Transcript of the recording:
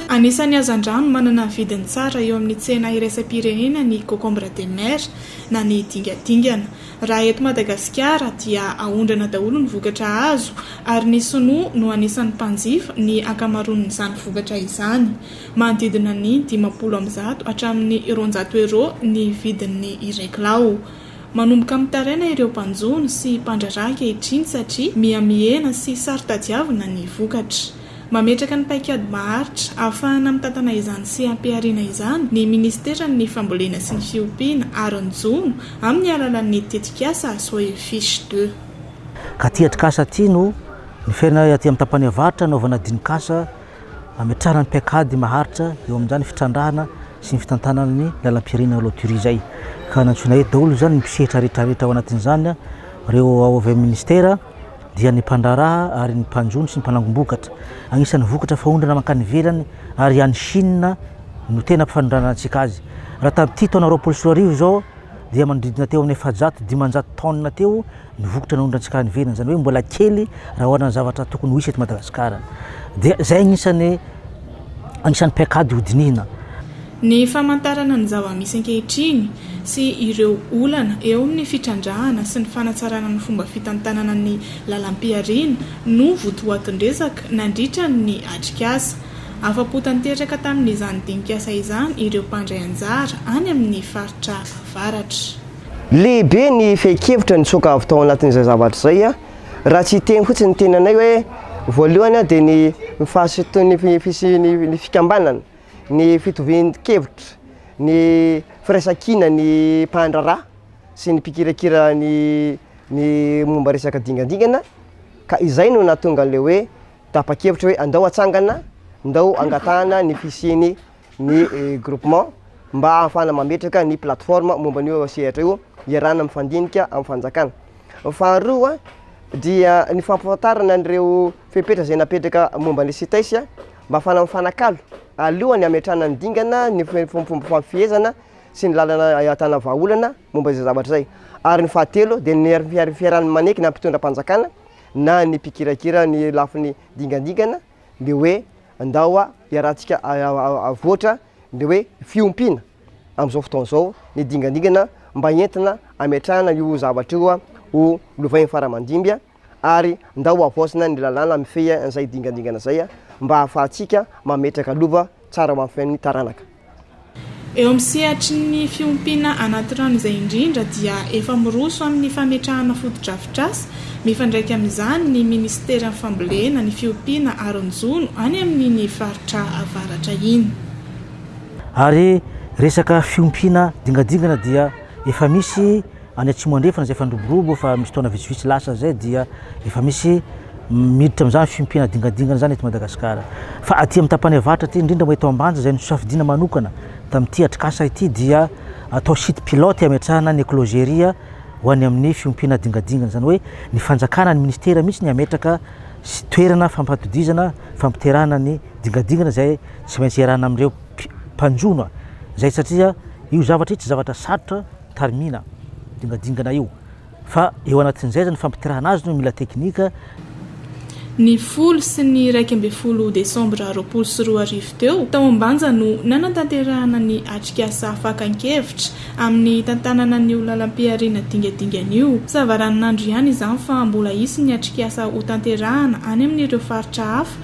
Anisan'ny hazandrano manana vidiny tsara eo amin'ny tsena iraisam-pirenena ny cocombre de mer na ny dingadingana. Raha eto Madagasikara dia aondrana daholo ny vokatra azo ary ny sinoa no anisan'ny mpanjifa ny ankamaroan'izany vokatra izany. Manodidina ny dimampolo amby zato hatramin'ny roanjato euro ny vidin'ny iray kilao. Manomboka mitaraina ireo mpanjono sy mpandraharaha ankehitriny satria miha mihena sy saro-tadiavina ny vokatra. Mametraka ny paikady maharitra ahafahana mitantana izany seha-pihariana izany ny Ministeran' ny Fambolena sy ny Fiompiana ary ny Jono amin' ny alalan' ny tetikasa Soil Fiche de. Ka ity atrikasa ity no niferana aty amin'ny tapany avaratra hanaovana dinikasa hametrahana ny paikady maharitra eo amin'izany fitrandrahana sy ny fitantanana ny lalam-pirenena loterie izay ka nantsoina eto daholo izany ny mpisehitra rehetrarehetra ao anatin'izany ireo ao avy amin'ny Ministera dia ny mpandraharaha ary ny mpanjono sy ny mpanangom-bokatra. Anisan'ny vokatra faondrana mankany ivelany ary any Chine no tena ampifanondranantsika azy. Raha tamin'ity taona roapolo sy roa arivo izao dia manodidina teo amin'ny efajato dimanjato tonnes teo ny vokatra naondrantsika any ivelany. Izany hoe mbola kely raha oharina amin'ny zavatra tokony ho hisy eto Madagasikara. Dia izay anisan'ny anisan'ny paikady hodinihina. Ny famantarana ny zava-misy ankehitriny sy ireo olana eo amin'ny fitrandrahana sy ny fanatsarana ny fomba fitantanana ny lalam-pihariana no votoatin-dresaka nandritra ny atrikasa. Afa-po tanteraka tamin'izany dinikasa izany ireo mpandray anjara any amin'ny faritra Avaratra. Lehibe ny fehin-kevitra nitsoaka avy tao anatin'izay zavatra izay, raha tsy hiteny fotsiny ny tenanay hoe, voalohany dia ny ny fisian'ny ny fikambanana, Ny fitovian-kevitra, ny firaisan-kina ny mpandraharaha sy ny mpikirakira ny ny momba resaka dingadingana ka izay no nahatonga an'ilay hoe tapa-kevitra hoe andao atsangana, ndao angatahana ny fisian'ny ny groupement mba ahafahana mametraka ny plateforme momba an'io sehatra io iarahana mifandinika amin'ny fanjakana. Faharoa dia ny fampahafantarana an'ireo fepetra izay napetraka momba ny Cteis Mba afahana mifanakalo, aloha ny hametrahana ny dingana, ny fomba fifehezana sy ny lalana ahitana vahaolana momba izay zavatra izay. Ary ny fahatelo dia ny fiarahana manaiky na ny mpitondram-panjakana na ny mpikirakira ny lafiny dingandingana ny hoe ndao iarahantsika avoatra ny hoe fiompiana amin'izao fotoana izao ny dingandingana mba entina hametrahana io zavatra io ho lovain'ny faramandimby. ary ndao havaozina ny lalàna mifehy an'izay dingandingana izay mba hahafahantsika mametraka lova tsara ho an'ny fiainan'ny taranaka. Eo amin'ny sehatry ny fiompiana anaty rano izay indrindra dia efa miroso amin'ny fametrahana fotodrafitrasa mifandraika amin'izany ny minisiteran'ny fambolena, ny fiompiana ary ny jono any amin'iny faritra avaratra iny. Ary resaka fiompiana dingandingana dia efa misy Any Atsimo Andrefana izay efa niroborobo efa misy taona vitsivitsy lasa izay dia efa misy miditra amin'izany fiompiana dingadingana izany eto Madagasikara. Fa aty amin'ny tapany avaratra aty, indrindra moa eto Ambanja izay nosafidiana manokana tamin'ity atrikasa ity dia atao site pilote hametrahana ny Eclogeria ho any amin'ny fiompiana dingadingana. Izany hoe ny fanjakana, ny ministera mihitsy ny hametraka toerana fampatodizana, fampiterahana ny dingadingana izay tsy maintsy iarahana amin'ireo mpanjono izay satria io zavatra io tsy zavatra sarotra. tarimina dingadingana io fa eo anatin'izay aza ny fampitirahana azy no mila teknika. Ny folo sy ny iraika ambin'ny folo desambra roapolo sy roa arivo teo, tao Ambanja no nanatanterahana ny atrikasa fakan-kevitra amin'ny hitantanana an'io lalam-pihariana dingadingana io. Savaranonandro ihany izany fa mbola hisy ny atrikasa hotanterahana any amin'ireo faritra hafa